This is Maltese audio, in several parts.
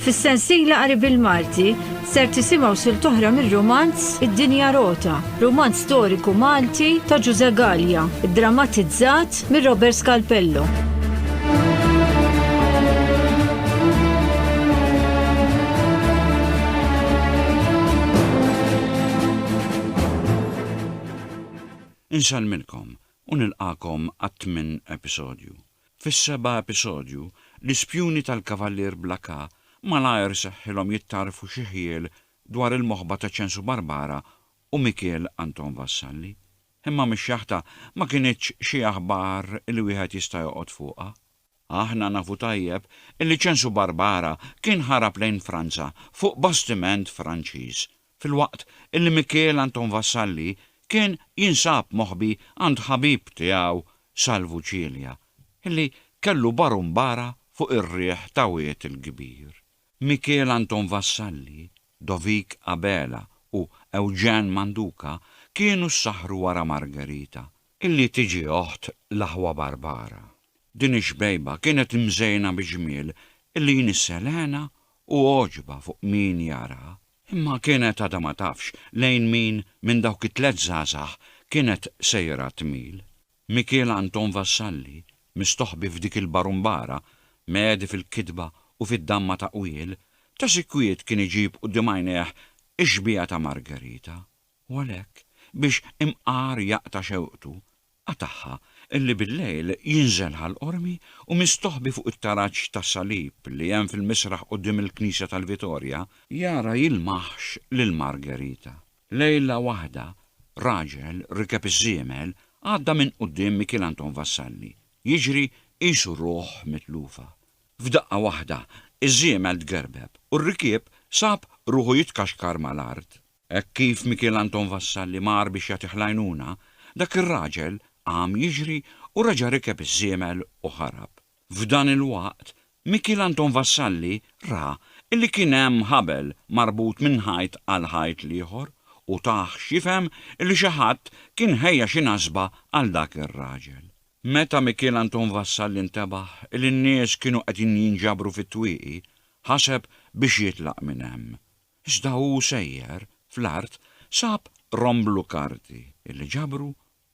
Fis-sensiela qari bil-Malti ser tisimgħu sil toħra mir-romanz Id-Dinja Rota, romanz storiku Malti ta' Ġuże Gallia, drammatizzat mir Robert Scalpello. Insellmilkom u nilqagħkom għat-tmien episodju. Fis-seba' episodju, l-ispjuni tal-Kavallier Bla Ka malajr seħħilhom jittarfu xi ħjiel dwar il-moħba ta' Ċensu Barbara u Mikiel Anton Vassalli. Imma mix-xaħta ma kinitx xi aħbar li wieħed jista' joqgħod fuqha. Aħna nafu tajjeb li Ċensu Barbara kien ħarab lejn Franza fuq bastiment Franċiż filwaqt illi Mikiel Anton Vassalli kien jinsab moħbi għand ħabib tiegħu Salvu Cilia, illi kellu barumbara fuq ir-riħ ta' Wied il-Kbir. Mikiel Anton Vassalli, Dovik Abela u Eugène Manduca kienu ssaħħru wara Margherita, illi tiġi oħt l-aħwa Barbara. Din ix-xbejba kienet imżejna bi ġmiel illi jnissel hena u għoġba fuq min jaraha. Imma kienet għadha ma tafx lejn min minn dawk it-tliet żgħażagħ kienet sejra tmil. Mikiel Anton Vassalli, mistoħbi f'dik il-barumbara, mhegħdi fil-kitba u fid-damma ta' qwiel, ta' sikwit kien iġib quddiem għajnejh ix-xbieha ta' Margherita, u għalhekk, biex imqar jaqta' xewqtu, Qatagħha, li billejl jinżel ħall-qormi u mistoħbi fuq it-taraġ ta' salib li hemm fil-misraħ quddiem il-knisja tal-Vitorja, jara jilmaħx lil Margherita. Lejla waħda, raġel rikeb iż-żiemel għadda minn quddiem Mikiel Anton Vassalli, jiġri qisu ruħ mitlufa. F'daqqa waħda, iż-żiemel tgerbeb u r-rikieb sab ruħu jitkaxkar mal-art. Hekk kif Mikiel Anton Vassalli mar biex jagħtih l-għajnuna, dak ir-raġel qam jiġri u reġa' rikeb iż-żiemel u ħarab. F'dan il-waqt, Mikiel Anton Vassalli ra li kien hemm ħabel marbut minn ħajt għal ħajt l-ieħor u tah x'jifhem li xi ħadd kien ħejja xi nasba għal dak ir-raġel. Meta Mikiel Anton Vassalli ntebaħ li n-nies kienu qegħdin jinġabru fit-twieqi, ħaseb biex jitlaq minn hemm. Iżda hu sejjer, fl-art sab romblu karti li ġabru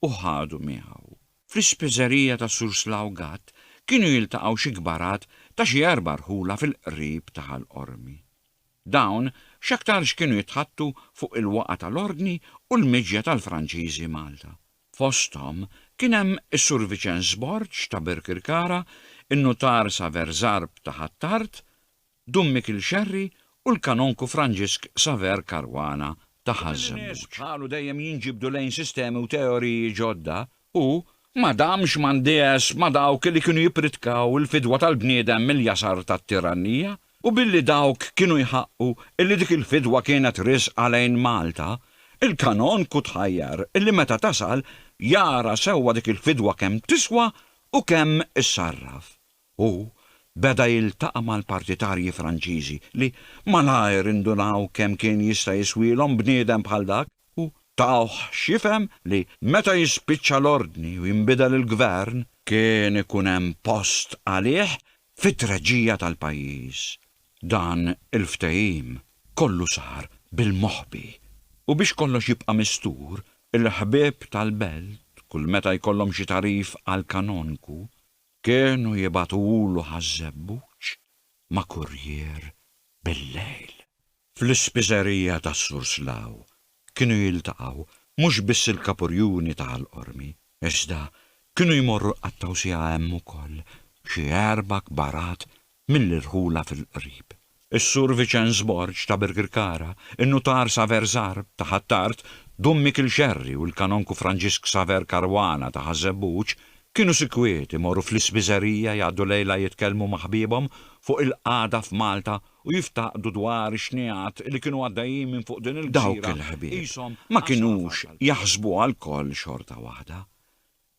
u ħadu miegħu. Fl-ispiżerija ta' Sur Slaw Gatt kienu jiltaqgħu xi kbarat ta' xi erba' rħula fil-qrib ta' Ħal Qormi. Dawn x'aktarx kienu jitħaddtu fuq il-waqgħa tal-Ordni u l-miġja tal-Franċiżi Malta. Fosthom kien hemm is-Sur Viċenz Borg ta' Birkirkara, in-Nutar Saver Zarb ta' Ħ'Attard, Dun Mikil Scerri u l-Kanonku Franġisk Saver Caruana ta' Ħaż-Żebbuġ. Bħalu dejjem jinġibdu lejn sistemi u teoriji ġodda u, ma damx ma ndiegħeż ma' dawk li kienu jippritkaw il-fidwa tal-bniedem mill-jasar tat-tirannija u billi dawk kienu jħaqqu illi dik il-fidwa kienet riżqa lejn Malta, il-Kanonku tħajjar illi meta tasal jara sewwa dik il-fidwa kemm tiswa u kemm issarraf. Hu beda jiltaqa' mal-partitarji Franċiżi li malajr indunaw kemm kien jista' jiswielhom bniedem bħal dak u tawh x'jifhem li meta jispiċċa l-ordni u jinbidel il-gvern kien ikun hemm post għalih fit-treġija tal-pajjiż. Dan il-ftehim kollu sar bil-moħbi u biex kollox jibqa' mistur, il-ħbieb tal-belt kull meta jkollhom xi tagħrif għall-kanonku, Kienu jibagħtulu ħaż-żebbuġ ma' kurrier bil-lejl. Fl-ispiżerija tas-Sur Slaw kienu jiltaqgħu mhux biss il-Kapurjuni ta' Ħal Qormi, iżda kienu jmorru jqattgħu siegħa hemm ukoll xi erba' kbarat mill-irħula fil-qrib. Is-Sur Viċenz Borg ta' Birkirkara, in-Nutar Saver Żgħar ta' Ħ'Attard, Dun Mikiel Xerri u l-Kanonku Franġisk Saver Caruana ta' Ħaż-Żebbuġ kienu sikwiet imorru fl-ispiżerija jgħaddu lejla jitkellmu ma' ħbiebhom fuq il-qagħda f'Malta u jiftaqdu dwar ix-xnigħat li kienu għaddejjin minn fuq din il-gżira qishom għażla f'għażla. Dawk il-ħbieb ma kinux jaħsbuha lkoll xorta waħda.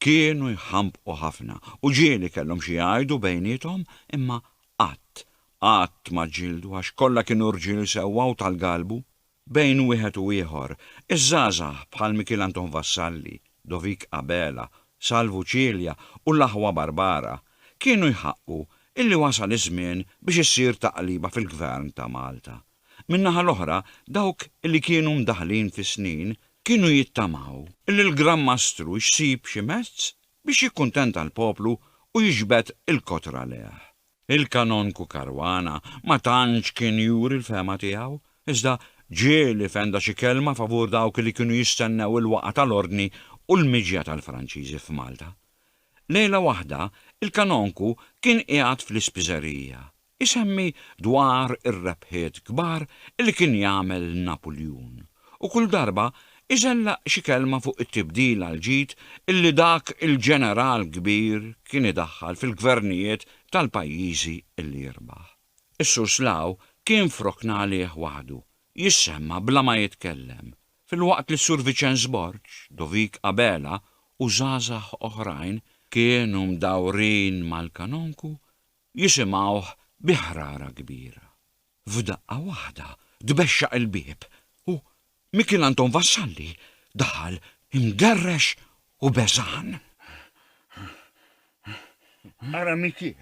Kienu jħambqu ħafna u ġieli kellhom xi jgħidu bejniethom imma qatt, qatt ma ġġieldu għax kollha kienu rġiel sewwa u tal-galbu. Bejn wieħed u ieħor, iż-żgħażagħ bħal Mikiel Anton Vassalli, Dovik Abela, Salvu Cilia u l-aħwa Barbara, kienu jħaqqu illi wasal iż-żmien biex issir taqliba fil-Gvern ta' Malta. Min-naħa l-oħra, dawk li kienu mdaħħlin fis-snin kienu jittamaw li l-Gran Mastru jsib xi mezz biex jikkuntenta l-poplu u jiġbed il-kot raleh. Il-Kanonku Caruana ma tantx kien juri l-fehma tiegħu, iżda ġieli fenda xi kelma favur dawk li kienu jistennew il-waqgħa tal-Ordni u l-miġja tal-Franċiżi f'Malta. Lejla waħda, il-Kanonku kien qiegħed fl-ispiżerija, Isemmi dwar ir-rebħiet kbar li kien jagħmel Napuljun, u kull darba iżellaq xi kelma fuq it-tibdil għal ġid li dak il-ġeneral kbir kien idaħħal fil-gvernijiet tal-pajjiżi li jirbaħ. Is-Surslaw kien f'rokna għalih waħdu, jissemma bla ma jitkellem, filwaqt li s-Sur Viċenz Borg, Dovik Abela u żgħażagħ oħrajn kienu mdawrin mal-Kanonku Jisimgħuh bi ħrara kbira. F'daqqa waħda tbexxaq il-bieb u Mikiel Anton Vassalli daħal imgerrex u beżgħan. Ara Mikiel,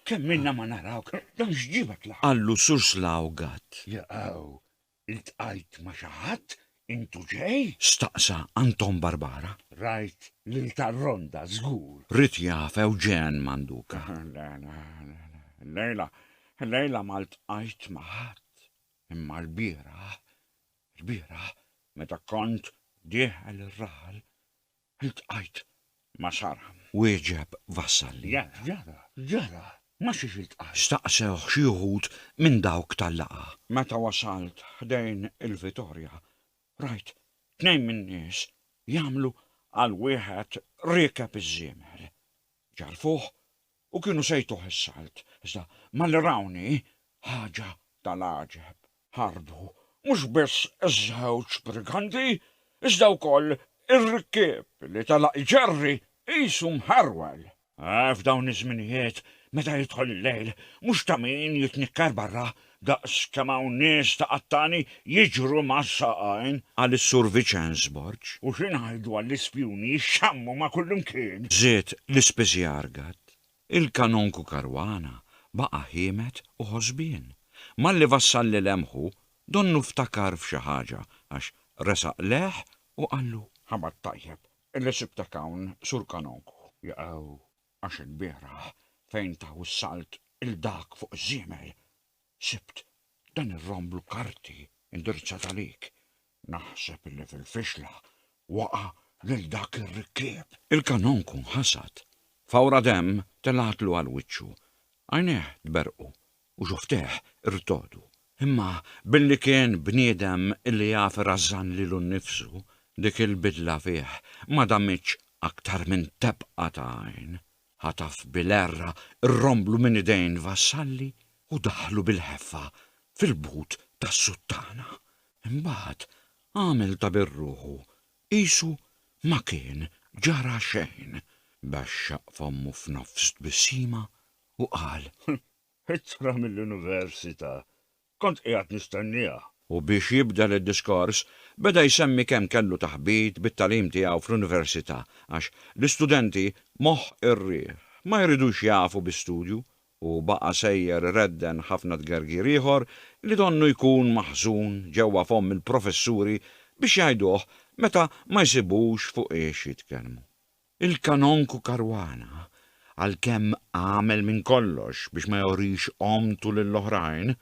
kemm ilna ma narawk, dan x'ġiebek l-hawn? qallu Sur Slawgat. Jaqaw Iltqajt ma' xi ħadd intu ġej? staqsa Anton Barbara. Rajt lil Tarronda, żgur. Ried jaf Eugène Manduca. Le, le, illejla, illejla ma ltqajt ma' ħadd. Imma lbieraħ, lbieraħ, meta kont dieħel ir-raħal, Iltqajt ma' Sara. Wieġeb Vassalli. Jaf x'ġara? X'ġara? Ma' xiex iltqajt? Staqsewh xi wħud minn dawk tal-laqgħa. Meta wasalt ħdejn il-Vitorja, rajt tnejn min-nies jagħmlu għal wieħed riekeb iż-żiemel. Ġarrfuh U kienu se jtuh is-salt, iżda malli rawni, ħaġa tal-għaġeb, ħarbu, mhux biss iż-żewġ briganti, iżda wkoll ir-rikkieb li telaq iġerri qisu mħerwel. F'dawn iż-żminijiet, meta jidħol il-lejl, mhux ta' min jitnikker barra, Daqs kemm hawn nies ta' qattani jiġru mas-saqajn. Qal is-Sur Viċenz Borg. U xi ngħidu għall-ispjuni jixxammu ma' kullimkien? Żied l-ispiżjar gatt. Il-Kanonku Caruana baqa' ħiemet u ħosbien. Malli vassalli lemħu, donnu ftakar f'xi ħaġa għax resaq lejh u qallu. Ħabar tajjeb li sibtek hawn, Sur Kanonku. Jaqaw. Għax ilbieraħ fejn taw is-salt 'il dak fuq iż-żiemel, sibt dan ir-rom bl-karti indirizzat għalik. Naħseb illi fil-fixla waqa' lil dak ir-rikkieb. Il-kanonku nħasad. Fawra demm telgħatlu għal wiċċu. Għajnejh tberrqu u xufteh irtogħdu. Imma billi kien bniedem li jaf irażżan lilu nnifsu, dik il-bidla fih ma damitx aktar minn tebqa ta' għajn. Ħataf bil-għerra r-romblu minn idejn l-vassalli u daħħlu bil-ħeffa fil-but tas-suttana. Imbagħad għamel ta' bir-ruħu qisu ma kien ġara xejn. Bexxaq f'ommu f'nofs tbissima U qal, Ittra mill-università. Kont qiegħed nistennieha. U biex jibdel id-diskors, beda jsemmi kemm kellu taħbit bit-tagħlim tiegħu fl-università għax l-istudenti moħħ ir-riħ, ma jridux jafu bi studju, u baqa' sejjer iredden ħafna tgergir ieħor li donnu jkun maħżun ġewwa fomm il-professuri biex jgħiduh meta ma jsibux fuq iex jitkellmu. Il-Kanonku Caruana, għalkemm għamel minn kollox biex ma jurix għomtu lil oħrajn,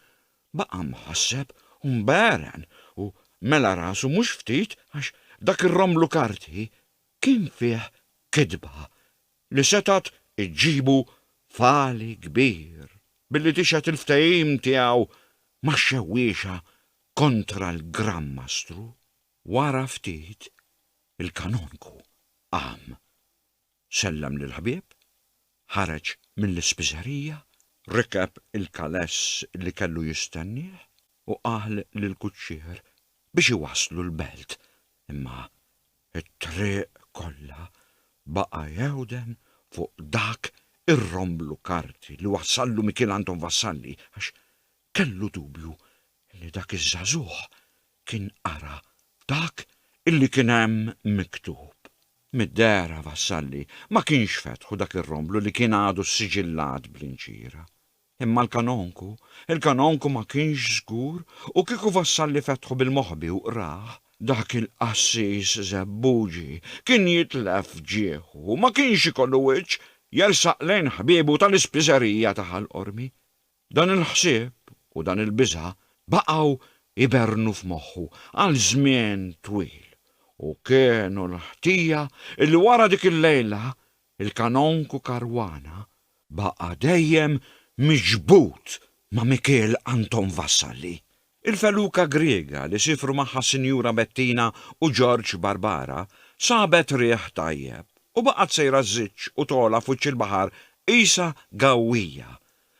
baqa' mħasseb u mbegħren u mela rasu mhux ftit għax dak ir-romblu karti kien fih kitba li setgħet iġġibu f'għali kbir billi tixhed il-ftehim tiegħu max-xewwiexa kontra l-Gran Mastru. Wara ftit, il-Kanonku qam, sellem lill-ħbieb, ħareġ mill-ispiżerija, rikeb il-kaless li kellu jistennieh u qal lill-kuċċier biex iwasslu l-belt, imma t-triq kollha baqa' jewden fuq dak ir-romblu karti li wassallu Mikiel Anton Vassalli għax kellu dubju li dak iż-żagħżugħ kien qara dak illi kien hemm miktub. Mid-dehra Vassalli ma kienx fetħu dak ir-romblu li kien għadu ssiġillat bl-inċira. Imma l-kanonku, il-kanonku ma kienx żgur u kieku Vassalli fetħu bil-moħbi u qrah, dak il-qassis żebbuġi kien jitlef f'ġieħu u ma kienx ikollu wiċċ jersaq lejn ħbiebu tal-ispiżerija ta' Ħal Qormi. Dan il-ħsieb u dan il-biża' baqgħu jberrnu f'moħħu għal żmien twil u kienu l-ħtija li wara dik il-lejla il-Kanonku Caruana baqa' dejjem miġbud ma' Mikiel Anton Vassalli. Il-feluka Griega li siefru magħha s-Sinjura Bettina u George Barbara sabet riħ tajjeb u baqgħet sejra żżiġ u togħla f'wiċċ il-baħar qisha gawwija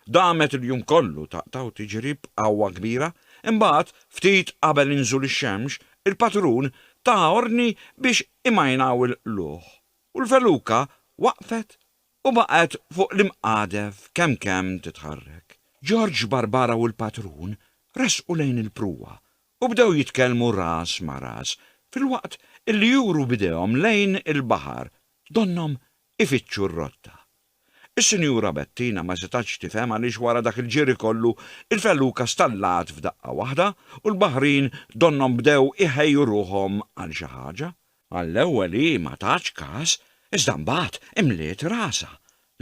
Damet il-jum kollu taqta' u tiġri b'qawwa kbira, imbagħad, ftit qabel inżul ix-xemx, il-patrun ta ordni biex imajnaw il-qlugħ, u l-feluka waqfet u baqgħet fuq l-imqadef kemm kemm titħarrek. Ġorġ Barbara u l-patrun resqu lejn il-pruwa u bdew jitkellmu ras ma' ras filwaqt illi juru b'idejhom lejn il-baħar donnhom ifittxu r-rotta. Is-Sinjura Bettina ma setgħetx tifhem għaliex wara dak il-ġiri kollu, il-felluka stallgħet f'daqqa waħda u l-baħrin donnhom bdew iħejju ruħhom għal xi ħaġa. Għall-ewwel hi ma tatx kas, iżda mbagħad imliet rasha,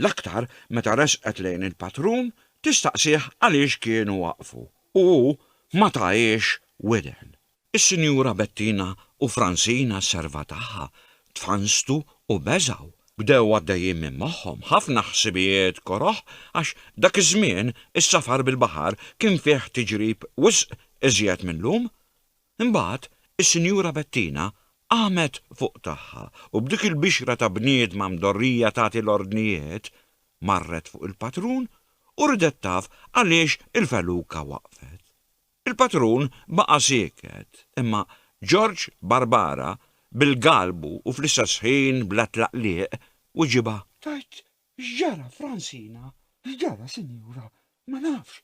l-aktar meta resqet lejn il-patrun tistaqsih għaliex kienu waqfu u hu ma tahiex widen. Is-Sinjura Bettina u Francine għas-serva tagħha tfannstu u beżgħu. Bdew għaddejjin minn moħħhom ħafna ħsibijiet koroh għax dak iż-żmien is-safar bil-baħar kien fih tiġrib wisq iżjed mil-lum. Imbagħad is-Sinjura Bettina qamet fuq tagħha u b'dik il-bixra ta' bniedma mdorrija tagħti l-ordnijiet, marret fuq il-patrun u ridet taf għaliex il-feluka waqfet. Il-patrun baqa' sieket, imma George Barbara, bil-galbu u fl-istess ħin bla tlaqliq, wiġibha. Tgħid x'ġara, Francina? X'ġara, sinjura? Ma nafx,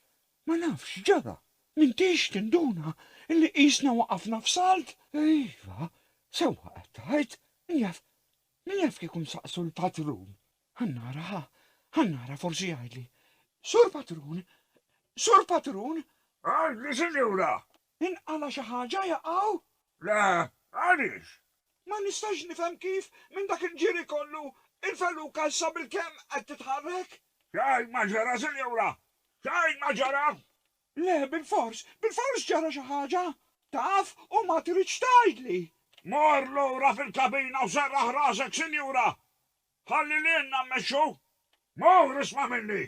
ma nafx x'ġara. M'intix tinduna li qisna waqafna f'salt? Iva, sewwa qed tgħid. Min jaf, min jaf kieku nsaqsu l-patrun? Ħa nara, ħa, ħa nara forsi jgħidli. Sur Patrun! Sur Patrun! Għadli, sinjura! Inqala xi ħaġa jaqgħu? Le, għaliex? Ma nistax nifhem kif minn dak il-ġiri kollu il-feluka issa bilkemm qed titħarrek? Xejn ma ġara, sinjura! Xejn ma ġara! Le, bilfors, bilfors ġara xi ħaġa! Taf u ma tridx tgħidli! Mor lura fil-kabina u serraħ rasek, sinjura! Ħalli lilna mmexxu! Mur isma' minni!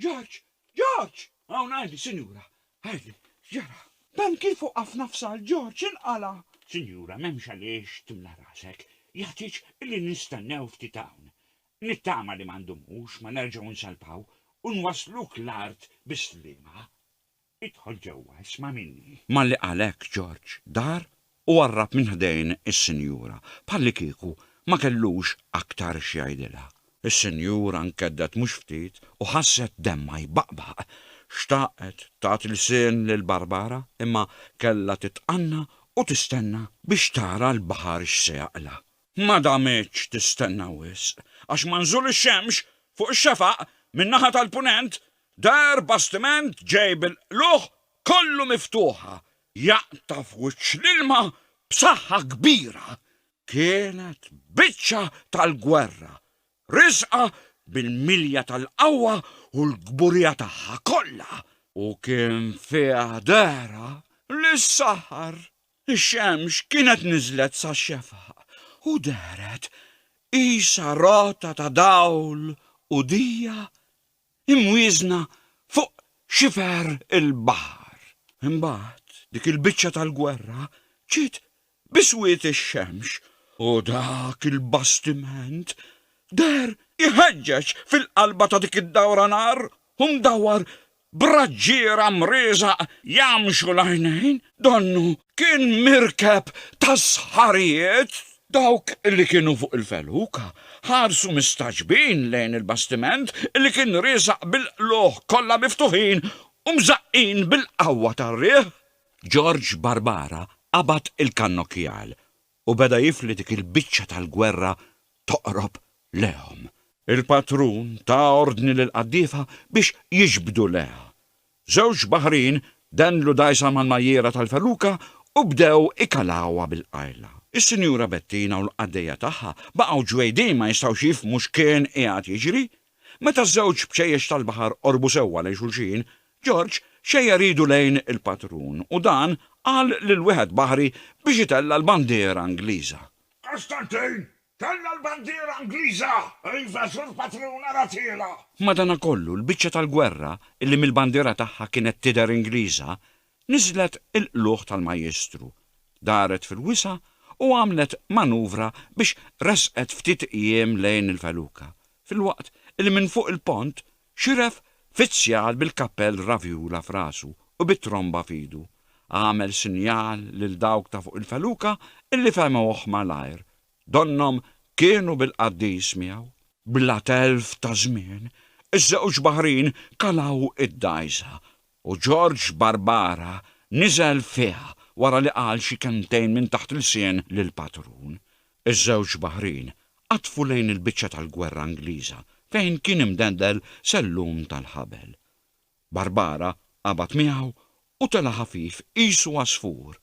George! George! Hawn Hailey, Sinjura! Hailey, x'ġara? Dan kif hu qaf nafs għal George inqala'! Sinjura, m'hemmx għaliex timla' rasek. Jagħtiġ li nistennew ftit hawn. Nittama li ma ndumux, ma nerġgħu nsalpaw u nwasluk l-art bis-sliema. Idħol ġewwa, isma' minni. Malli qal hekk Ġorġ dar u qarrab minn ħdejn is-sinjura, bħallikieku ma kellux aktar x'jgħidilha. Is-sinjura nkeddgħet mhux ftit u ħasset demmha jbaqbaq. Xtaqet tagħti lsien lil Barbara imma kellha titqanna u tistenna biex tara l-baħar x'se jaqla'. Ma damitx tistenna wisq għax manżul ix-xemx fuq ix-xefaq min-naħa tal-Punent Deher bastiment ġej bil-qlugħ kollu miftuħa jaqta' f'wiċċ l-ilma b'saħħa kbira. Kienet biċċa tal-gwerra, riżqa bil-milja tal-qawwa u l-kburija tagħha kollha. U kien fiha dehra li s-saħar. Ix-xemx kienet niżlet sax-xefaq u dehret qisha rota ta' dawl u dija imwieżna fuq xifer il-baħar. Imbagħad dik il-biċċa tal-gwerra ġiet bi swied ix-xemx u dak il-bastiment deher iħeġġeġ fil-qalba ta' dik id-dawra nar u mdawwar b'raġġiera mrieżaq jgħammxu l-għajnejn, donnu Kien mirkeb ta' sħarijiet! Dawk li kienu fuq il-feluka ħarsu mistagħġbin lejn il-bastiment li kien riesaq bil-qlugħ kollha miftuħin u mżaqqin bil-qawwa tar-riħ. Georg Barbara qabad il-kannokjal u beda jifli dik il-biċċa tal-gwerra toqrob lejhom. Il-patrun ta ordni lill-qaddiefa biex jiġbdu lejha. Żewġ baħrin dendlu dgħajsa mal-majjiera tal-feluka u bdew ikalawha bil-qajla. Is-Sinjura Bettina u l-qaddejja tagħha baqgħu ġwejdin ma jistgħux jifhmu x'kien qiegħed jiġri. Meta ż-żewġ bċejjex tal-baħar qorbu sewwa lejn xulxin, George xejjer idu lejn il-patrun u dan qal lil wieħed baħri biex itella' l-bandiera Ingliża. Għal x'tantejn! Tella' l-bandiera Ingliża! Iva, żur patrun, ara tiela'! Madanakollu, l-biċċa tal-gwerra, illi mill-bandiera tagħha kienet tidher Ingliża, niżlet il-qlugħ tal-Majjistru, daret fil-wisa' u għamlet manuvra biex resqet ftit qjiem lejn il-feluka, filwaqt illi minn fuq il-pont Xieref fizzjal bil-kappell ravjula f'rasu u bit-tromba f'idu, għamel sinjal lil dawk ta' fuq il-feluka illi fehmuh malajr, donnhom kienu bil-qaddis miegħu. Bla telf ta' żmien, iż-żewġ baħrin kalgħu id-dgħajsa U George Barbara niżel fih wara li qal xi kelmtejn minn taħt ilsien lill-patrun. Iż-żewġ baħrin qatfu lejn il-biċċa tal-gwerra Ingliża fejn kien imdendel sellum tal-ħabel. Barbara qabad miegħu u tela' ħafif qisu għasfur.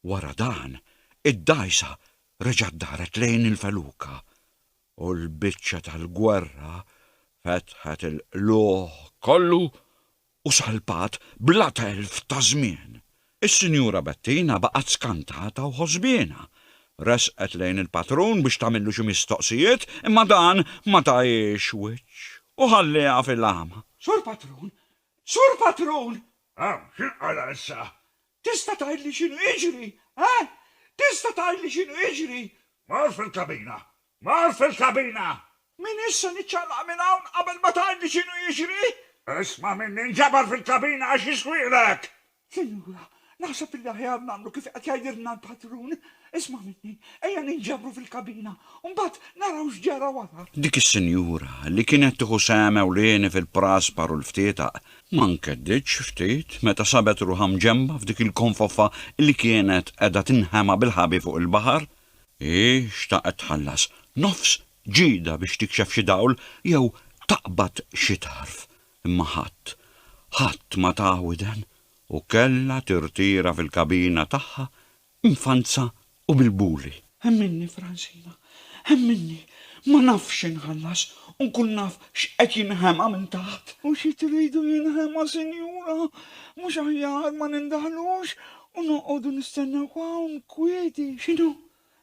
Wara dan, id-dgħajsa reġgħet daret lejn il-feluka u l-biċċa tal-gwerra fetħet il-qlugħ kollu u salpat bla telf ta' żmien. Is-Sinjura Bettina baqgħet skantata u ħosbiena. Resqet lejn il-patrun biex tagħmillu xi mistoqsijiet imma dan ma tahiex wiċċ u ħallieha fil-għama. Sur Patrun! Sur Patrun! Ehm, x'inqala' issa? Tista' tgħidli x'inhu jiġri, eh? Tista' tgħidli x'inhu jiġri? Mort fil-kabina Mor fil-kabina! M'iniex se niċċaqlaq minn hawn qabel ma tgħidli x'inhu jiġri! Isma' minni, inġabar fil-kabina għax jiswieqlek! Sinjura, naħseb illi aħjar nagħmlu kif qed jgħidilna l-patrun. Isma' minni, ejja ninġabru fil-kabina u mbagħad naraw x'ġara wara. Dik is-sinjura, li kienet tieħu sehem ewlieni fil-praspar u l-ftietaq, ma nkeddietx ftit meta sabet ruħha mġenba f'dik il-konfoffa li kienet qiegħda tinħema bil-ħabi fuq il-baħar. Hi xtaqet tħallas nofs ġida biex tikxef xi dawl jew taqbad xi tarf, imma ħadd, ħadd ma taha widen u kellha tirtira fil-kabina tagħha mfanza u bil-buli. Ħemminni, Francina, ħemminni, ma nafx x'inħallas u nkun naf x'qed jinħema minn taħt. U xi tridu jinħema, sinjura? Mhux aħjar ma nindaħlux U noqogħdu nistennew hawn kwieti. X'inhu?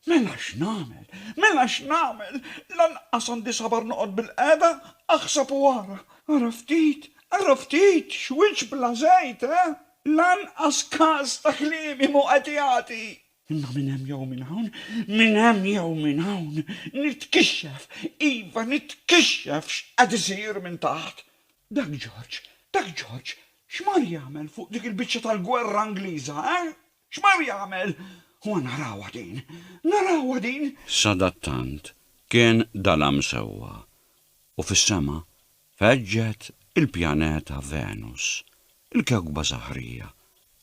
Mela x'nagħmel? Mela x'nagħmel? Lanqas għandi sabar noqgħod bilqiegħda, aħseb u ara. Ara ftit, ara ftit, x'wiċċ bla żejt, eh? Lanqas kas ta' kliemi mhu qed jagħti. Imma minn hemm jew minn hawn, minn hemm jew minn hawn, nitkixxef, iva, nitkixxef x'qed isir minn taħt. Dak George, dak George, x'mar jagħmel fuq dik il-biċċa tal-gwerra Ingliża, eh? X'mar jagħmel? Huwa narawha din! Narawha din! Sadattant kien dalam sewwa, u fis-sema feġġet il-pjaneta Venus, il-kewkba saħrija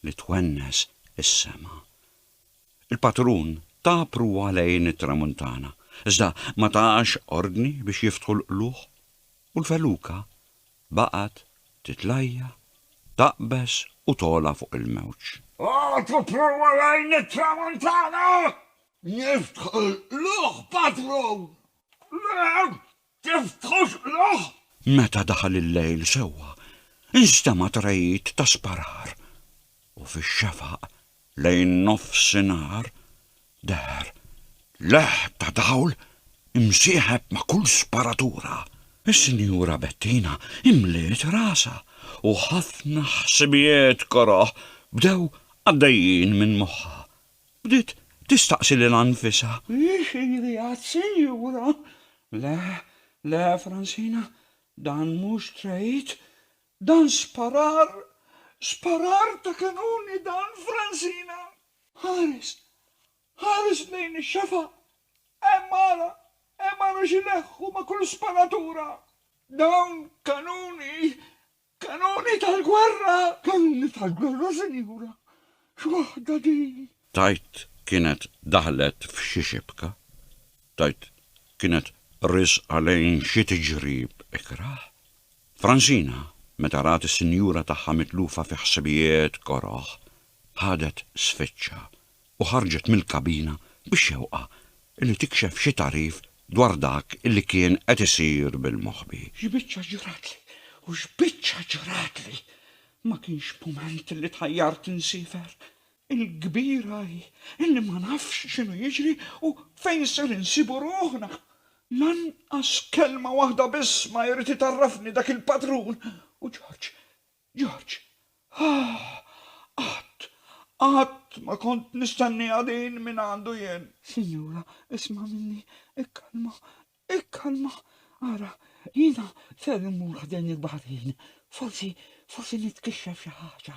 li twennes is-sema. Il-patrun ta pruwa lejn it-tramuntana, iżda ma tax ordni biex jiftħu l-qlugħ. U l-feluka baqgħet titlajja', taqbeż u togħla fuq il-mewġ. Għad tipprova lejn it-tramuntana? Niftħu l-qluħ, padrun! Le, tiftħux qluħ! Meta daħal il-lejl sewwa, instema' treid ta' sparar u fix-xefaq Lejn nofsinhar deher leħ ta' dawl imsieħeb ma' kull sparatura. Is-Sinjura Bettina imliet rasha u ħafna ħsibijiet koroh bdew għaddejjin minn moħħha. Bdiet tistaqsi lilha nfisha. Hix ili għas-Sinjura? Le, le, Fransina, dan mhux trade. Dan xparar, xparar ta' kanuni dan, Fransina! Ħares, ħares lejn ix-xafaq! Hemm ara, hemm ara x'ileħħu ma' kull sparatura! Dawn kanuni, kanuni tal-gwerra! Kanuni tal-gwerra, sinjura! X'waħda din? Tgħid kienet daħlet f'xi xibka? Tgħid kienet riżqa lejn xi tiġrib ikrah? Fransina, meta rat is-sinjura tagħha mitlufa fi ħsibijiet koroh, ħadet sfiċċa u ħarġet mill-kabina bix-xewqa li tikxef xi tagħrif dwar dak li kien qed isir bil-moħbi. X'biċċa ġratli u x'biċċa ġratli! Ma kienx b'mument li tħajjart insiefer. Il-kbira hi li ma nafx x'inhu jiġri u fejn ser insibu ruħna. Lanqas kelma waħda biss ma jrid itgħarrafni dak il-padrun u Ġorġ, Ġorġ. Aah! Qatt, qatt ma kont nistennieha din mingħandu jien. Sinjura, isma' minni, ikkalma, Ikkalma, ara, jiena ser immur ħdejn il-baħrin, forsi, forsi nitkixxef xi ħaġa.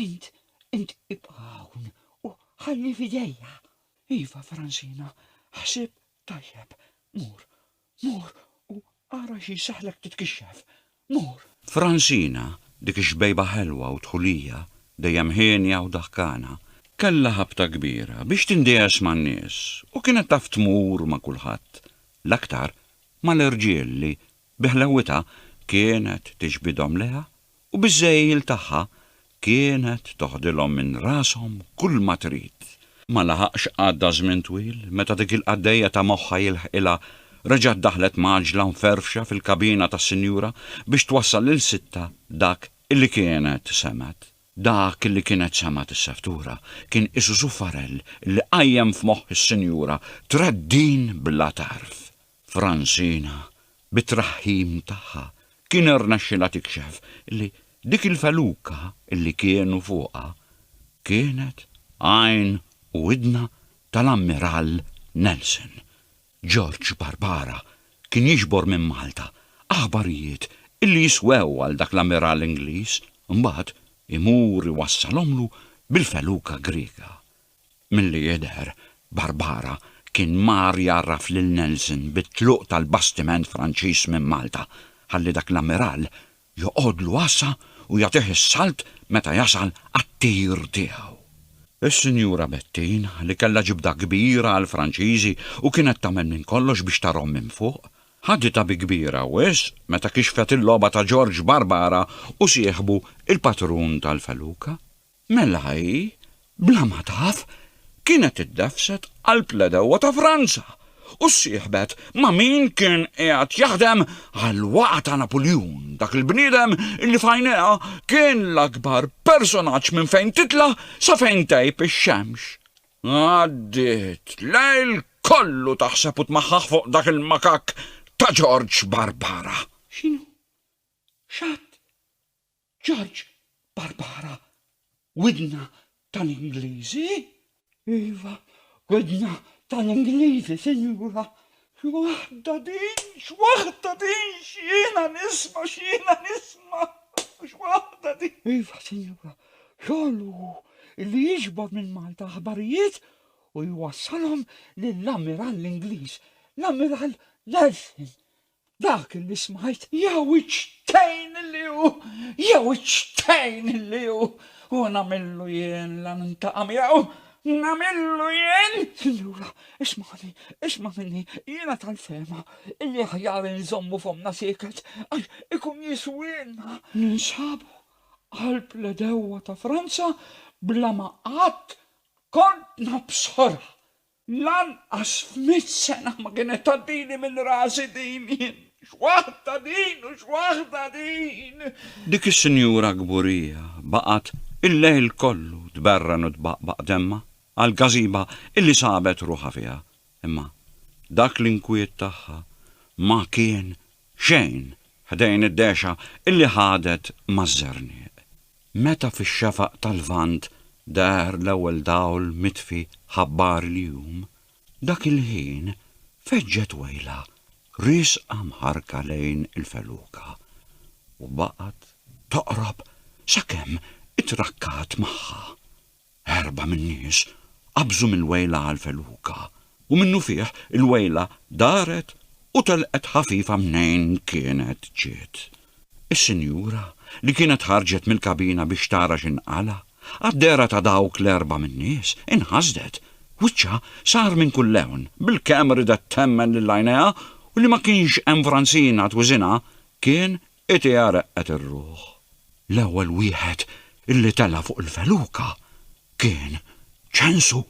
Int, int ibqa' hawn u ħalli f'idejja. Iva, Francina, ħsib tajjeb. Mur, mur u ara xi jseħħlek titkixxef. mur. Francina, dik ix-xbejba ħelwa u dħulija, dejjem hienja u daħkana, kellha ħabta kbira biex tindiegħes man-nies u kienet taf tmur ma' kulħadd, l-aktar mal-irġiel li, bi ħlewwitha, kienet tiġbidhom lejha u biż-żgħejjil tagħha Kienet toħdilhom minn rashom kull ma trid. Ma laħaqx għadda żmien twil meta dik il-qaddejja ta' moħħha jilħqilha reġgħet daħlet mgħaġġla mferfxa fil-kabina tas-sinjura biex twassal lil sittha dak li kienet semgħet. Dak li kienet semgħet is-seftura kien qisu suffarell li qajjem f'moħħ is-sinjura treddin bla tarf. Franzina, bit-traħħim tagħha, kien irnexxilha tikxef li dik il-feluka li kienu fuqha kienet għajn u idna tal-Ammirall Nelson. George Barbara kien jiġbor minn Malta aħbarijiet li jiswew għal dak l-Ammirall Ingliż, imbagħad imur iwassalhomlu bil-feluka Griega. Milli jidher, Barbara kien mar jgħarraf lil Nelson bit-tluq tal-bastiment Franċiż minn Malta, ħalli dak l-ammiral joqgħodlu għassa u jagħtih is-salt meta jasal għat-tir tiegħu. Is-Sinjura Bettin, li kellha ġibda kbira għall-Franċiżi u kienet tagħmel minn kollox biex tarahom minn fuq, ħaditha bi kbira wisq meta kixfet il-logħba ta' Ġorġ Barbara u sieħbu il-patrun tal-feluka. Mela hi, bla ma taf, kienet iddefset qalb l-għedewwa ta' Franza u ssieħbet ma' min kien qiegħed jaħdem għall-waqgħa ta' Napuljun, dak il-bniedem li f'għajnejha kien l-akbar personaġġ minn fejn titla' sa fejn tgħib ix-xemx. Għaddiet lejl kollu taħseb u tmaħħaħ fuq dak il-makakk ta' Ġorġ Barbara. X'inhu? X'għadt? George, Barbara, widna tal-Ingliżi? Iva, widna tal-Ingliżi, Sinjura. X'waħda din, x'waħda din, x'jiena nisma', x'jiena nisma', x'waħda din! Iva, Sinjura, xogħol hu li jiġbor minn Malta aħbarijiet u jwassalhom lill-Ammirall Ingliż, l-Ammirall Nelson. Dak li smajt. Jew iċ-ċtejn li hu! Jew iċ-ċtejn li hu! U nagħmillu jien la nintaqa' miegħu! Nagħmillu jien! Sinjura, ismagħni, isma' minni, jiena tal-fehma illi aħjar inżommu fommna sieket għax ikun jiswielna. Ninsabu qalb l-għedewwa ta' Franza bla ma qatt kont nabsorha! Lanqas f'mitt sena ma kienet tgħaddili minn rasi din, jien, x'waħda din u x'waħda din! Dik is-sinjura kburija baqgħet il-lejl kollu tberren u tbaqbaq demmha għall-każiba illi sabet ruħha fiha, imma dak l-inkwiet tagħha ma kien xejn ħdejn id-dehxa illi ħadet maż-żernieq. Meta fix-xafaq tal-Lvant deher l-ewwel dawl mitfi ħabbar il-jum, dak il-ħin feġġet wejla riesqa mħarrka lejn il-feluka u baqgħet toqrob sakemm ittrakkat magħha. Erba' min-nies qabżu mill-wejla għall-feluka, u minnufih il-wejla daret u telqet ħafifa mnejn kienet ġiet. Is-sinjura, li kienet ħarġet mill-kabina biex tara x'inqala', għad-dehra ta' dawk l-erba' min-nies, inħasdet. Wiċċha sar minn kull lewn, bilkemm ridet temmen lil għajnejha u li ma kienx hemm Franzina twiżinha kien Hi tgħarrqet ir-ruħ. L-ewwel wieħed li tela' fuq il-feluka kien Ċensu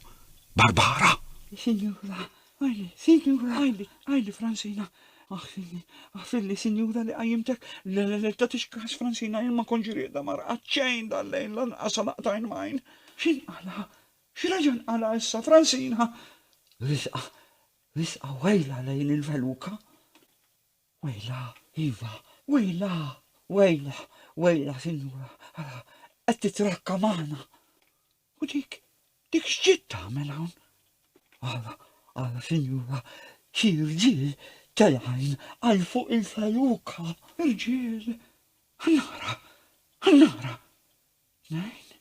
Barbara. Sinjura, għajli, sinjura, għajli, għajli Fransina. Aħfirli, aħfirli, sinjura li qajjimtek. Le, le, le, tagħtix kas Fransina, jien ma kontx riedha ma rqadt xejn dal-lejl lanqas sa laqgħet għajn m'għajn. X'inqala'? X'reġa' nqala' issa, Fransina? Risqa, risqa wejla lejn il-feluka. Wejla, iva, wejla, wejla, wejla, sinjura, ara, qed titrakka magħna. U dik, dik x'ġiet tagħmel hawn? Ara, ara, sinjura, xi rġiel telgħin għal fuq il-feluka. Irġiel, ħannara, ħannara. Tnejn,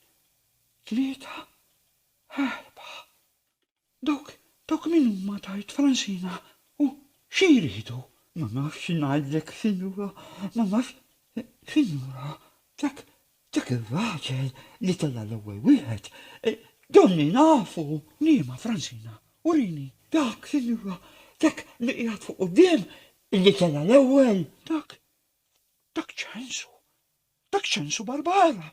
tlieta, erba. Dawk, dawk min huma tard f'ranxina u xi jridu? Ma nafx xi ngħidlek, sinjura, ma nafx, sinjura, dak, dak ir-raġel li tela' l-ewwel wieħed, donni nafu! Liema, Franxina? Urini! Dak, sinjura, dak li qiegħed fuq quddiem, li tela' l-ewwel! Dak, dak ċ'għensu? Dak ċ'għensu Barbara?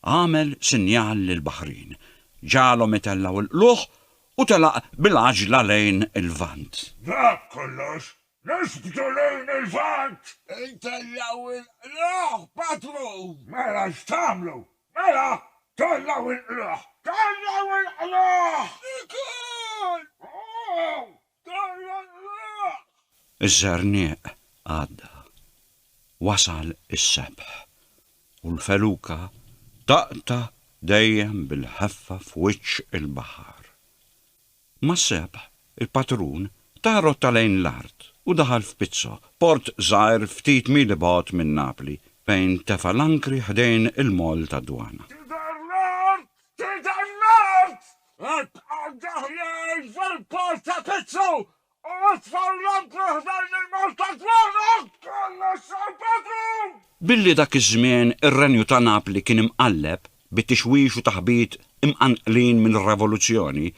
Agħmel sinjal lill-baħrin, ġagħalhom itellgħu l-qlugħ u telaq bil-għaġla lejn il-Lvant. Dak kollox, norbtu lejn il-Lvant! Intellgħu l-qlugħ, patrun! Mela x'tagħmlu? Mela, tellgħu l-qlugħ! Tellgħu l-qlugħ! Ikun! Iż-żerniq għadda. Wasal is-sebħ. U l-feluka taqta' dejjem bil-ħeffa f'wiċċ il-baħar. Mas-sebħ, il-patrun ta rotta lejn l-art u daħal f'Pizzo, port żgħir ftit mili bogħod minn Napli, fejn tefa' l-ankri ħdejn il-moll tad-dwana. Ħadd għandu ħnieżer fil-post ta' piċċu u itfa' l-lampju ħdejn il-mewt ta' dwaru! Kollox sar b'għedhom! Billi dak iż-żmien ir-Renju ta' Napli kien imqalleb bi tixwix u taħbit imqanqlin mir-Revoluzzjoni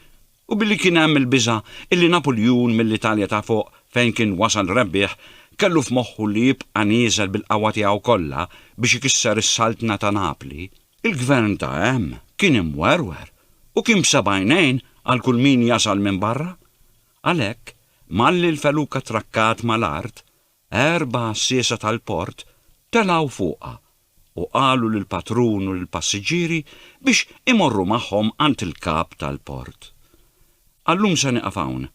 u billi kien hemm il-biża' illi Napuljun mill-Italja ta' fuq fejn kien wasal rebbieħ kellu f'moħħu li jibqa' nieżel bil-qawwa tiegħu kollha biex ikisser is-Saltna ta' Napli, Il-gvern ta' hemm kien imwerwer u kien b'seb'għajnejn għal kull min jasal minn barra. Għalhekk, malli l-feluka trakkat mal-art, erba' għassiesa tal-port telgħu fuqha u qalu lill-patrun u lill-passiġġieri biex imorru magħhom għand il-kap tal-port. Għal-lum se nieqaf hawn,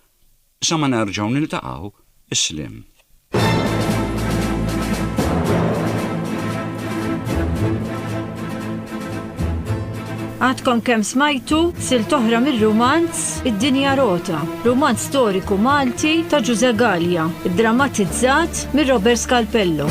Sa ma nerġgħu niltaqgħu, is-sliem. Għadkom kemm smajtu sil toħra mir-rumanz Id-Dinja Rota, rumanz storiku Malti ta' Ġuże Gallia, drammatizzat mir Robert Scalpello.